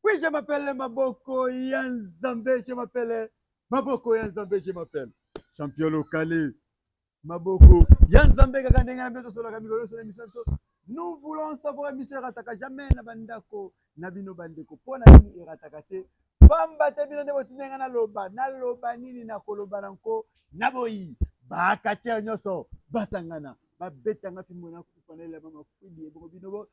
Oui, je m'appelle Maboko ya Nzambe, je m'appelle Maboko ya Nzambe, je m'appelle Champion Lokale. Maboko ya Nzambe kaka ndenge na biso tosolaka mikolo nyonso na biso biso. Nous voulons savoir biso erataka jamais na bandako na bino bandeko. Mpo na nini erataka te? Pamba te bino nde botinda ngai naloba, naloba nini nakoloba na nko na boyi. Bakatiere nyonso basangana babetanga fimbo na kufanele mama fidi ebongo bino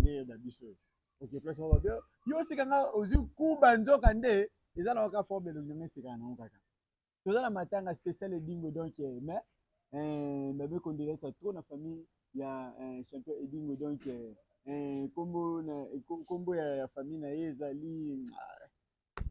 nde na biso ok place moko bien yo osika nga ozwi kuba nzoka nde eza na waka forme elongi nga esekaka nango kaka toza na matanga spécial edingo donc eh, mais eh, babe condoléance trop na famille ya eh, champion edingo donc nkombo na nkombo ya famille na ye ezali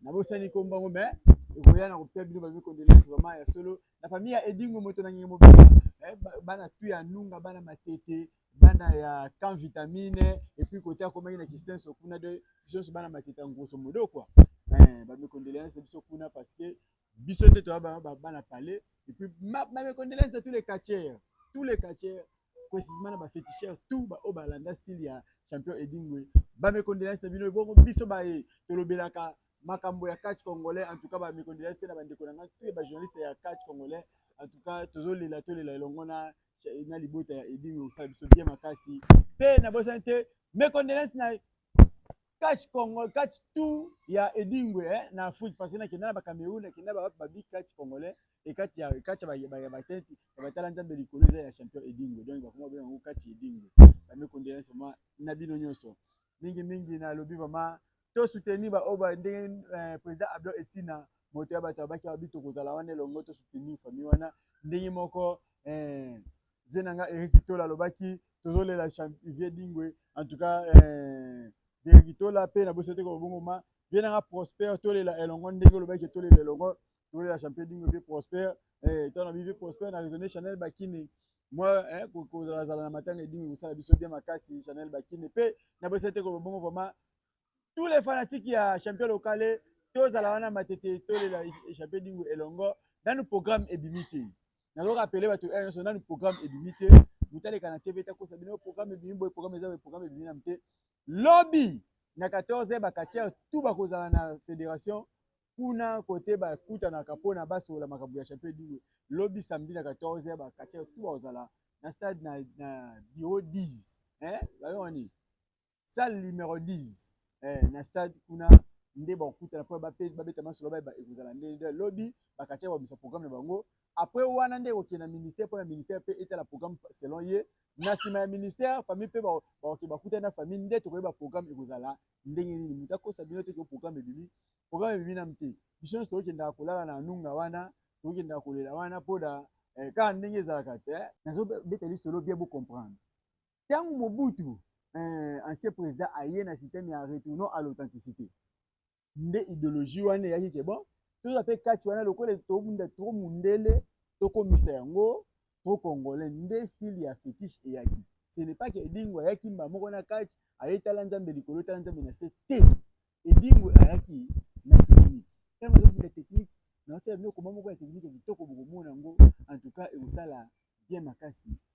na bosani ko mbango mais ekoya na kopia bino babi condoléances vraiment ya solo na famille ya Edingo moto na ngenge mobimba eh, bana tu ya nunga bana matete bana ya camp vitamine et puis côté akomaki na kisenso kuna de biso bana matete ya ngoso modo quoi eh, ba mes condoléances biso kuna parce que biso nde toya bana pale epuis mamekondelese de tous les catcheurs tous les catcheurs précisement na bafeticheur tout baoyo oh, balanda style ya champion edingwe bamekondelese na bino ebongo biso baye tolobelaka makambo ya catch congolais en tout cas bamekondelese mpe na bandeko na ngai mpe bajournaliste ya catch congolais en tout cas tozolela tolela elongo na na libota ya edingwe osala biso bien makasi mpe nabosani te mekondelese na catch congo catch tout ya edingwe eh, na afrique parce que nakenda na bacameroun nakenda bawapi babi catch congolais ekati ya ekati ya batenti ya batala nzambe likolo eza ya champion edingwe donc bakoma bena yango catch edingwe bamekondela soma na bino nyonso mingi mingi nalobi vraiment to soutenir baoyo ba ndenge eh, président abdo etina moto ya bato abaki babi tokozala wana elongo to soutenir famille wana ndenge moko eh, vie na nga Eric Tola alobaki tozolela vie dingwe en tout cas eh, Eric Tola pe na bosi te ko bongo ma vie na nga Prosper tolela elongo ndenge olobaki tolela elongo tolela champion dingwe vie Prosper eh tana vie Prosper na raisonner Chanel Bakini moi eh, kozalazala na matanga edingi kosala biso bien makasi Chanel Bakini pe na bosi te ko bongo vraiment tous les fanatiques ya champion locale tozala wana matete tolela échappé dingo elongo nanu programme ebimi te nazo rappeler bato oyo nyonso nanu programme ebimi te moto aleka na tv takosa bino programme ebimi boye programme eza boye programme ebimi namu te lobi na 14 bakatiere tout bakozala na fédération kuna kote bakutanaka mpona basolola makambo ya champion dingo lobi samedi na 14 bakatiere tout bakozala na stade na, na bureau 10 eh, bayonga nini salle numero 10 eh, na stade kuna nde bakokutana mpo babeta masolo bayeba ekozala nde lobi bakatya babisa programme na bango après wana nde ekokende na ministère mpo na ministère mpe etala programme selon ye na nsima ya ministère famille mpe bakokende bakutani na famille nde tokoyeba programme ekozala ndenge nini moto akosa bino te ke programme ebimi programme ebimi nanu te biso nyonso tokokendaka kolala na nunga wana tokokendaka kolela wana mpo na eh, kaka ndenge ezalaka te nazobeta lisolo bien bocomprendre tangu Mobutu eh, ancien president aye na système ya retournant à l'authenticité nde ideologie wana eyaki ke bon toza mpe kati wana lokola tobunda trop mundele tokomisa yango trop congolais nde style ya fetiche eyaki ce n'est pas que edingo ayaki mbala moko na kati aye tala nzambe likolo tala nzambe na se te edingo ayaki na technique ntango azobunda technique naotia bino koma moko ya technique ya kitoko bokomona yango en tout cas ekosala bien makasi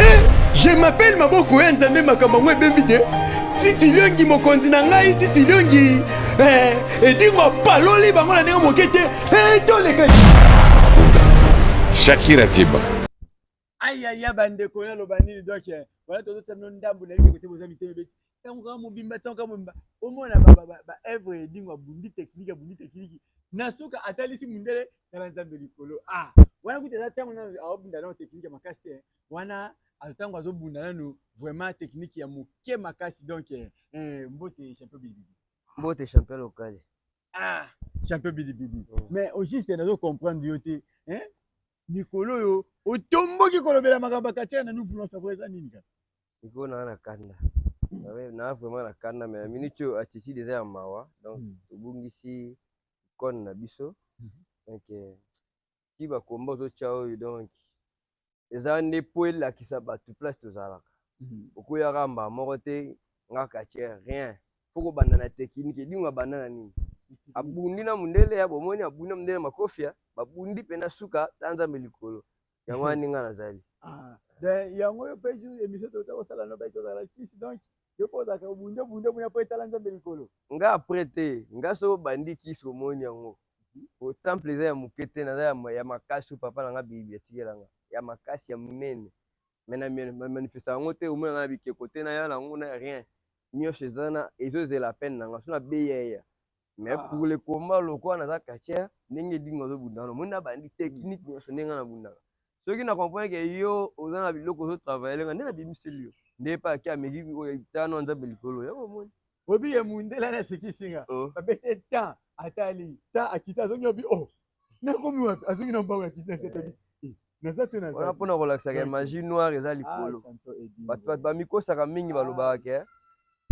Eh, je m'appelle maboko ya nzambe makambo yango ebembi te titiliongi mokonzi na ngai titiliongi eh, edimo apaloli bango na ndenge moke te eh, toleka shakira tiba ayaya bandeko naloba nini donk wana tozotia bino ndambo na yike kote boza mitema ebeti ntango kaka mobimba ntango kaka mobimba omona baevre edingo abundi tekniki abundi tekniki na suka atalisi mondele tala nzambe likolo a ah, wana kuta eza ntango nano aobunda nano tekniki ya makasi te wana ntango azobunda nano vraiment tekniki ya moke makasi donk eh, eh, mbote champion bilibili mbote champion lokale ah champion bilibili oh. mais au juste nazo comprendre yo te hein mikolo oyo otomboki kolobela makambo ya katia na nous voulons savoir eza nini kaka mikolo naa na kanda naa vraiment na kanda mais na minute oyo attitude eza ya mawa donc hmm. tobungisi kone na biso hmm. donc euh, ti ba combat ozotia oyo donc eza nde mpo elakisa bato place tozalaka mhm. okoyaka mbaa moko te nga katier rien mpo kobanda na tekinike edingo abanda na nini abundi na mondele ya bomoni abundi na mondele makofia babundi mpe na suka ta nzambe likolo yango wana ndenge nazali ah, yango yo mpe emission tokosala no bai tozala kisi donc nga apre te nga soko bandi kisi omoni yango po temple eza ya moke te naza ya makasi oyo papa na nga bibi atikela nga ya makasi ya monene me na manifesta yango te omona nga na bikeko te naya na yango na rien nyonso eza na ezozela apene na nga so na beya eya me ah. pour le combat lokola naza kacher ndenge edingo azobunda wana omoni na bandi technique nyonso ndenge nga nabundaka soki na comprendre ke yo oza na biloko ozo travailler nga nde na bimiseli yo nde pa ki ameki oyo tano nzambe likolo ya omoni obi ye mundela na sikisi nga oh. ba bese ta atali ta akita azongi obi oh na komi wapi azongi na mbango akita eh. setabi eh, naza to naza wana pona kolakisaka ya magie noire eza ah, likolo bato bato bamikosaka mingi ah. balobaka ke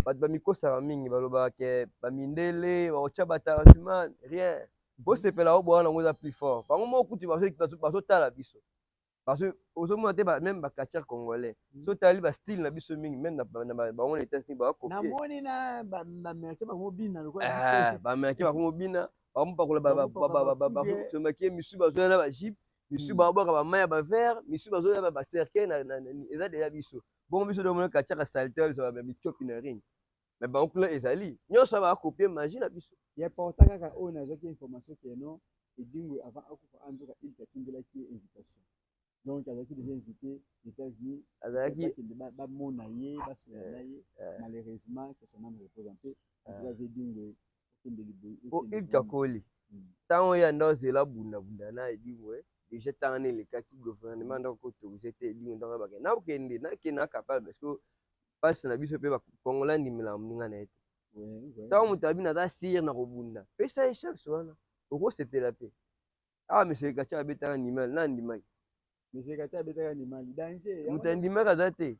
bato bamikosaka mingi balobaka ke bamindele baotya batarasima rien bosepela o bwana yango eza plus fort bango moko kutu bazotala biso ozomona te meme bacatcher congolais mm. so tali bastyle na biso mingi meme bango na etats unis bakopiebamilaki bango mobina bamopakola batomaki misu bazoya na bajipe misu mm. babwaka bamai ya bavere misu bazoya bacercueil eza deja biso bongo biso domona katiaka salite mitiopi na ring me bango kuna ezali nyonso ya bakopie magi na biso ya porta kaka oyo nazwaki information keno edingwe avant akufa anzoka ah, ilki atindelaki ye invitation donc azalaki déjà invité états-unis azalakikende bamona ye basola na ye eh, eh. malheureusement que son ame repose en paix en tout cas vie edingwe okende libopo ilki akoli ntango hmm. oyo anda ozela bundabunda na edingwe déjà ntango nelekaki gouvernement hmm. ndako kotorise te edingwe ndako bakende nakende nakende na capable parce que pasi na biso pe ba congolais andimela muninga na ye te ntango moto abi naza sire na kobunda pesa ye chance wana okosepela mpe awa monsieur kacha abetaka ndimali na andimaki monsieur kacha abetaka ndimali danger moto andimaki aza te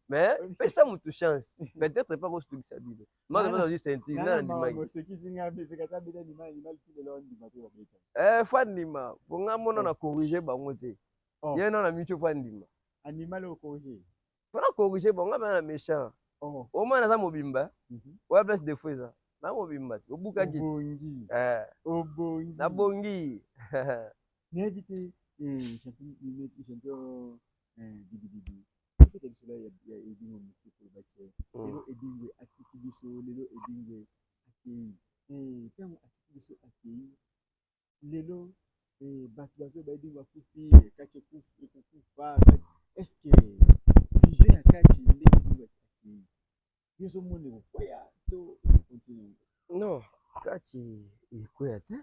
mais pesa moto chance peut-être epa kosutugisa bino maza baza juste intime na andimaki eh fo andima po nga mona na corrige bango te oh. ye na na mitio fo andima andimali okorige pona corrige bon nga bana méchant oh. omona naza mobimba mhm. oya place de fois eza na mobimba te obukaki obongi eh. obongi nabongi nayebi te eh, champion eh, bidibidi tokita lisolo ya edingo moke kolobaki mm. lelo edingwe atiki biso lelo edingwe akei ntango atiki biso akei lelo eh, bato bazo bayebi bakufi kati ekufi ekokufa est ce que vision ya kati ndenge ebaki yo ozomona ekokwea to continue non kati ekwea te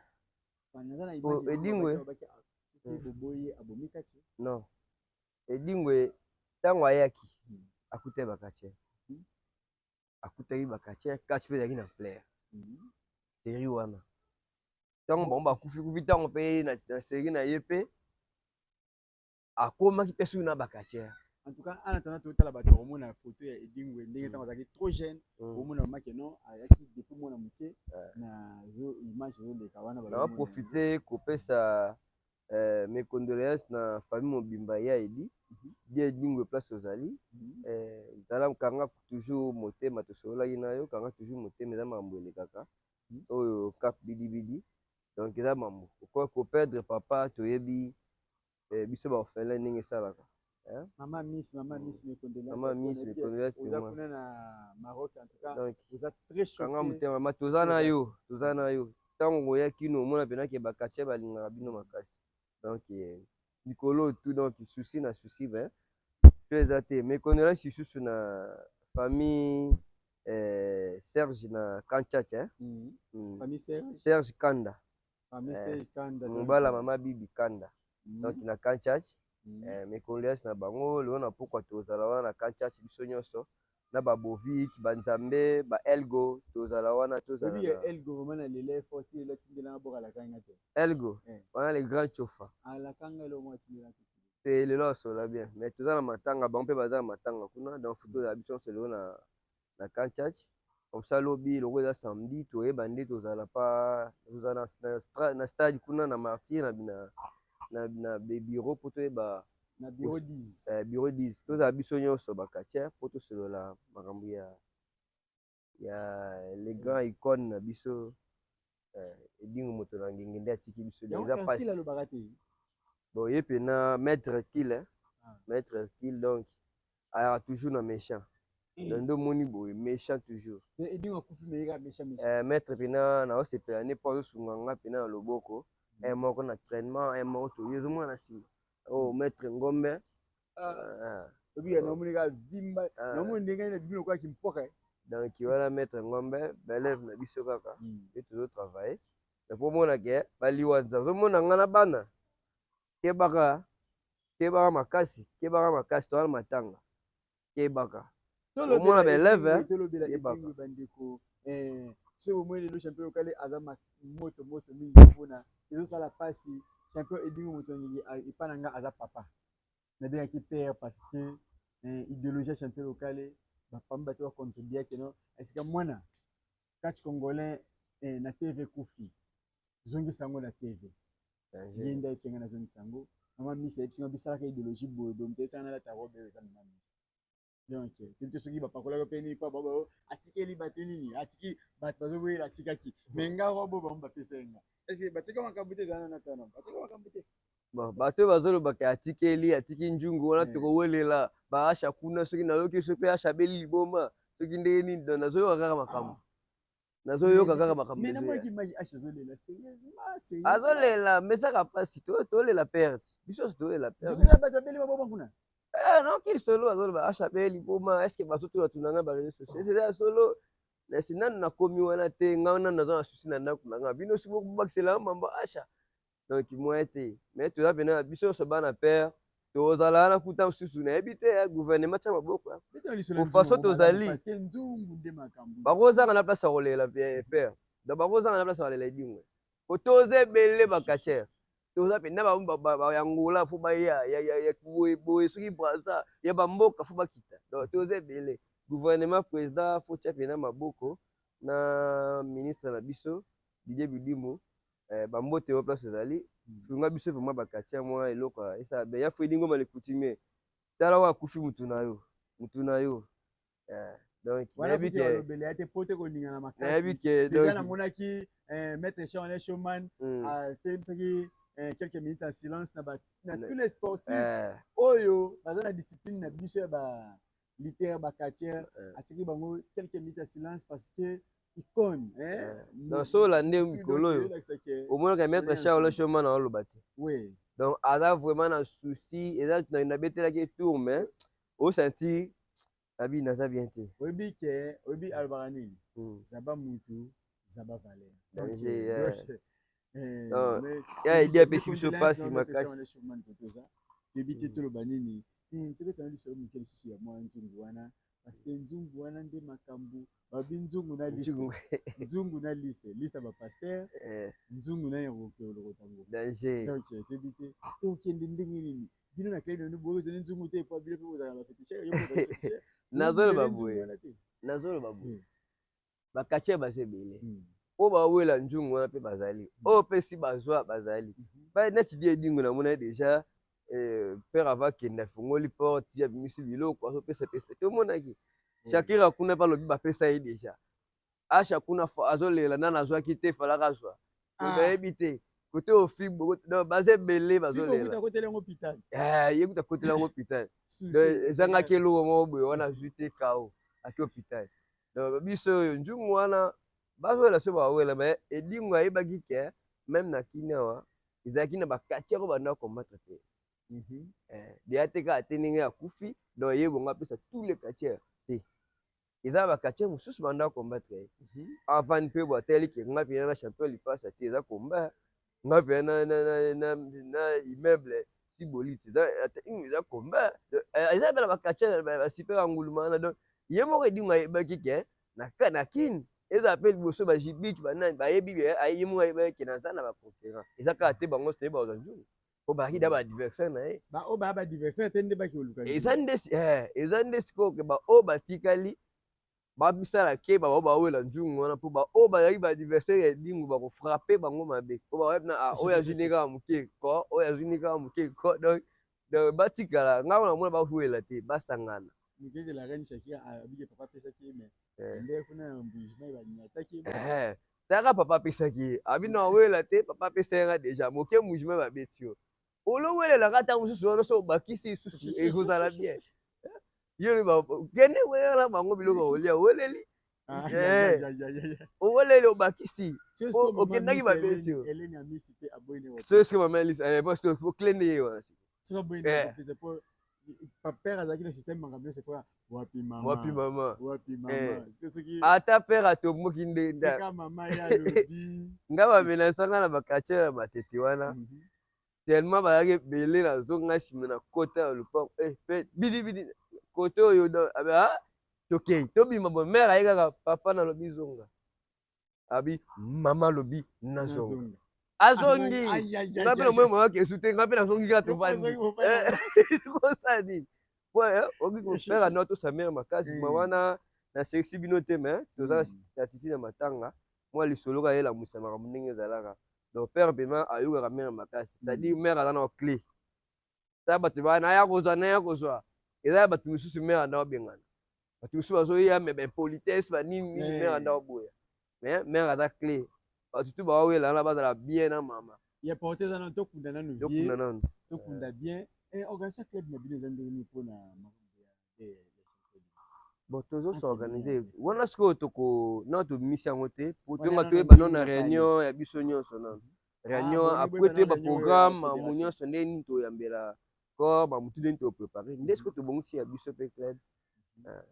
edingwe hmm. boboye abomi kati non edingwe ntango ayaki hmm. akutaki bakati hmm. akutaki ba catcheur catch mpe ezalaki na plaire mhm. serie wana ntango bango bakufi kufi ntango mpe na serie na ye mpe akomaki mpe soki na ba catcheur en tout cas en attendant totala bato bakomona ya photo ya edingwe ndenge ntango azalaki trop jeune mm. omona mamake non ayaki depuis mwana moke na image ezoleka wana baprofite kopesa Euh, mes condoléances na famille mobimba ya Edi mhm. Dieu Edingwe place ozali mhm. euh, zala kanga toujours motema tosololaki na yo kanga toujours motema eza makambo elekaka mhm. oyo cap bidibidi donc eza mambo okoki koperdre papa toyebi eh, biso baorphelin ndenge esalaka Hein? Maman Miss, Maman Miss mes condoléances. Maman Miss mes condoléances. Oza kuna na Maroc en tout cas. Donc, oza très choqué. Kanga mutema ma toza na yo, toza na yo. Tango ngoya kino omona pena ke bakatia balingaka bino makasi. Donc eh, likolo tout donc souci na souci ben so eza te. Mes condoléances lisusu na famille eh, Serge na Kanchacha. Hein? Mm. Mm. Famille Serge. Serge Kanda. mobala eh, mama bibi kanda mm. donc na kanchach mm. eh, mes condoléances na bango lelo na pokwa tozala wana na kanchach biso nyonso na ba bovik ba nzambe ba elgo tozala wana tozala oui, elgo vraiment na lele fort il est tindela na boka la kanga te elgo eh. wana le grand chofa à ah, la kanga le moi tindela te lelo asola bien mais tozala matanga bango pe bazala matanga kuna donc futur la biso solo na na camp church comme ça lobi loko eza samedi toyeba nde tozala pa tozala na stade kuna na martyr na bina na bina bureau po toyeba na bureau 10 eh, bureau 10 tozala biso nyonso ba catcheur po tosolola makambo ya ya le grand icône na biso eh, edingo moto na ngenge nde atiki biso eza pasi alobaka te bon ye mpena maître hercule ah. maître hercule donc ayaka toujours na méchant eh. donc nde omoni boye méchant toujours edingo akufi meyeka méchant méchant eh, maître mpena naosepela ne mpo azosunga nga mpena na loboko mm. moko na trainement moko toye ezomona na nsima o oh, maître ngombe obi ya naomoni ka vimba naomoni ndenge na bino kwa kimpoka donc wana maître ngombe belève na biso kaka mpe hmm. tozo travaille mais mpo omona ke baliwa nazomona ngai na bana kebaka kebaka makasi kebaka makasi towana matanga kebaka omona belève kebaka eh, soki bomoni lelo champion lokale aza moto moto mingi mpona ezosala mpasi champion edingo moto nini epa na ngai aza papa na bengaki père parce que eh, ideologie ya champion lokale bapami bato bacontribuaki no esika mwana catch congolais eh, na tv kufi zongisa yango na tv ye nde ayebisi ngai nazongisa yango mama misa ayebisi ngai bisalaka ideologie boye boye moto ayebisaka nalata robe oyo eza mama misa donc tete soki bapakolaki mpe nini mpo babo atikeli bato nini atiki bato bazoboyela atikaki me nga wabo bango bapesa ye nga ese batika makambo te ezala na tana batika makambo te bato oyo bazolobaka atikeli atiki njungu wana eh. tokowelela baasha kuna soki nayoki soki mpe asha abeli liboma soki ndenge nini nazoyoka kaka makambo ah. nazoyoka kaka makambo azolela mesaka mpasi tolela perte biso nyonso tolela pertebato eh, noki solo azoloba asha be liboma eske bato to batuna ngai bareseau sociaux eza solo nasi nanu nakomi wana te ngai nanu naza na susi na ndako na ngai bino soki bobakisela mambo asha donc moyen te mais toza pena na biso nyonso bana père tozalaka na kuta mosusu nayebi te ya gouvernement tya maboko façon tozali bakozanga na place ya kolela eh, père donc bakozanga na place ya kolela edingwe po toza ebele bacachere toza mpenza bayangola fo baya boye soki braza ya bamboka fo bakita donc toza ebele gouvernement président fo tya mpenza maboko na ministre na biso didie bidimu Eh, ba mbote yo place ezali sunga biso vraiment ba quartier mwa eloko esa be ya fedi ngoma le coutumier tala wa kufi mutu na yo mutu na yo eh, donc nayebi ke lobele ya te pote ko ninga na makasi nayebi ke donc na monaki eh, maître Charles Showman mm. a ah, telebisaki eh, quelques minutes en silence na ba na tous les sportifs eh. oyo baza na discipline na biso ya ba lutteur ba catcheur eh. atiki bango quelques minutes ya silence parce que icone eh, donc so olande mikolo oyo omonaka maître charles choma na oloba te donc aza vraiment na souci eza nabetelaki tour mais osanti abi naza bien te oyebi ke oyebi alobaka nini hmm. zaba mutu zaba valeur Eh, non ya edi apesi biso mpasi makasi toyebi te toloba nini eh, tobetana lisolo moke lisusu ya mwa nzungu wana parceke nzungu wana nde makambo babi nzungu na liste nzungu na liste liste ya bapaster eh. nzungu na yangokeolokotango donc toyebi te tokende ndenge nini bino na klai nanu boyozali nzungu te epa bino mpe bozalaka bafetishe nazoloba boye nazoloba boye bakatier baza ebele hmm. oyo bawela nzungu wana mpe bazali hmm. oyo mpe si bazwa bazali hmm. neti die edingo namona ye deja eh, père ava kende afungoli porte ya bimisi biloko azopesa pesa te omonaki shakira kuna mpe alobi bapesa ye deja asha kuna azolela nana azwaki te falaka azwa ah. nayebi te kote ofibo baza ebele bazolela eh, ye kuta kotela yango hôpital ezangaki eloko moko boye wana azwi te kao ake hôpital Donc biso oyo nzungu wana bazwela so bawela mais edingo ayebaki ke meme na kini awa ezalaki na bakati yako banda combattre te mhm. eh, deya te kaka te ndenge akufi donc ye bongo apesa tous les quartier te eza na baquartier mosusu banda combattre ye mhm. avant mpe bwatali ke nga mpena na champion lipasa te eza combat nga pe na na na na na immeuble si boliti eza eza komba eza bela bakacha ba super anguluma na donc ye moko edinga yebaki ke na na kin eza pe liboso ba jibik ba nani ba yebi ye ye moko yebaki ke naza na ba concurrent eza kaka te bango te ba za nzungu po ba kida ba adversaire na ye ba o ba ba adversaire te nde baki oluka eza nde eh eza nde sikoyo ke ba o batikali babisala keba bao bawela nzungu wana mpo baoyo bazalaki baadversaire ya edingu bakofrape bango mabe mpo bayebi na ah, oyo azwi nde kaka moke ko oyo azwi nde kaka moke ko donc donc batikala ngai wana mona bawela te basangana mokeke la reine shakira ah, abike papa apesaki ye mais eh. nde kuna ya mbujimai banyataki ye eh, taka papa apesaki ye abi na wela te papa apesaki nga deja moke mbujimai babeti yo olowelelaka ntango mosusu wana so obakisi lisusu ekozala bien yo kende welela bango biloko olia oweleli ah, eh. oweleli obakisi okendaki babeti soeske mama elise oklende ye wana père azalaki na système makambo nyonso efoka wapi mama wapi mama wapi mama eh. soki ata père atomboki nde nda mama ya lobi nga bamenasa nga na bakatiere ya matete wana mhm. tellement bazalaki ebele nazonga nsima na kota ya lopango eh, pe bidibidi kote oyo abi ah, tokei tobima bo mare aye kaka papa nalobi zonga abi mama alobi nazonga azongi nga mpe namoni mama kesu te nga mpe nazongi kaka tovandi kosala nini po eh, oki kofere anwa tosamere makasi ma eh. wana nasekisi bino te me toza na hmm. statiti na matanga mwa lisolo kaka elamusa makambo ndenge ezalaka donc père pema ayokaka mère makasi c'est-à-dire mère aza na clé ta bato baa naya kozwa naya kozwa eza ya bato mosusu mère anda obengana bato mosusu bazoya me baimpolitesse banini nini mère anda oboya mais mère aza clé bato tu bawawela wana bazala bien na mama ya porte eza nano tokunda nano tokunda nano tokunda bien eh, organisation club na bino eza ndenge nini mpona bon tozo s'organiser wana sikoyo toko nao tobimisi yango te po tonga toyeba nao na réunion ya biso nyonso nano réunion ah, après toyeba programme mamu nyonso nde nini toyambela corps mamutu nde nini toprépare nde sikoyo tobongisi ya biso mpe club ah.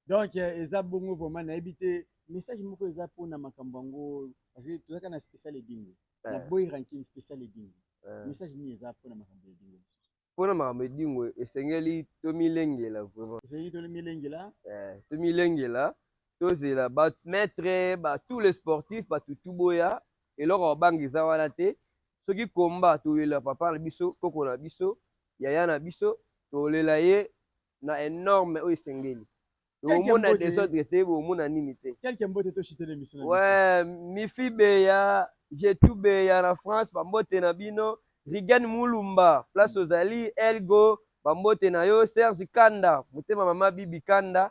donc euh, eza bongo vraiment nayebi te message moko eza mpona makambo yango parce que tozalaka na spécial edingo na eh. boy rankin spécial edingo eh. message nini eza mpona makambo ya edingo mpona makambo edingo esengeli tomilengela vraiment esengeli tomilengela eh, tomilengela tozela bamaître ba tous les sportifs bato tu boya eloko ya banga eza wana te soki komba tolela papa na biso koko na biso yaya na biso tolela ye na enorme oyo esengeli omona desordre te omona nini te quelque mbote to chitele miso na ouais mifi beya jetu beya na France ba mbote na bino Rigen Mulumba place ozali Elgo ba mbote na yo Serge Kanda motema mama Bibi Kanda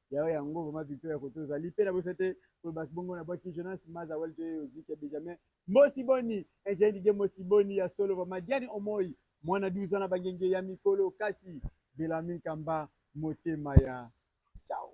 Yao yango vraiment victoire ya koto ozali pe na bosa te koloba kibongo na bwaki Jonas Maza Wali to yo ziki ya Benjamin Mosi Boni Eugène Didier Mosi Boni ya solo vraiment Diane Omoi mwana 12 ans na bangenge ya mikolo kasi Bellarmine Kamba motema ya ciao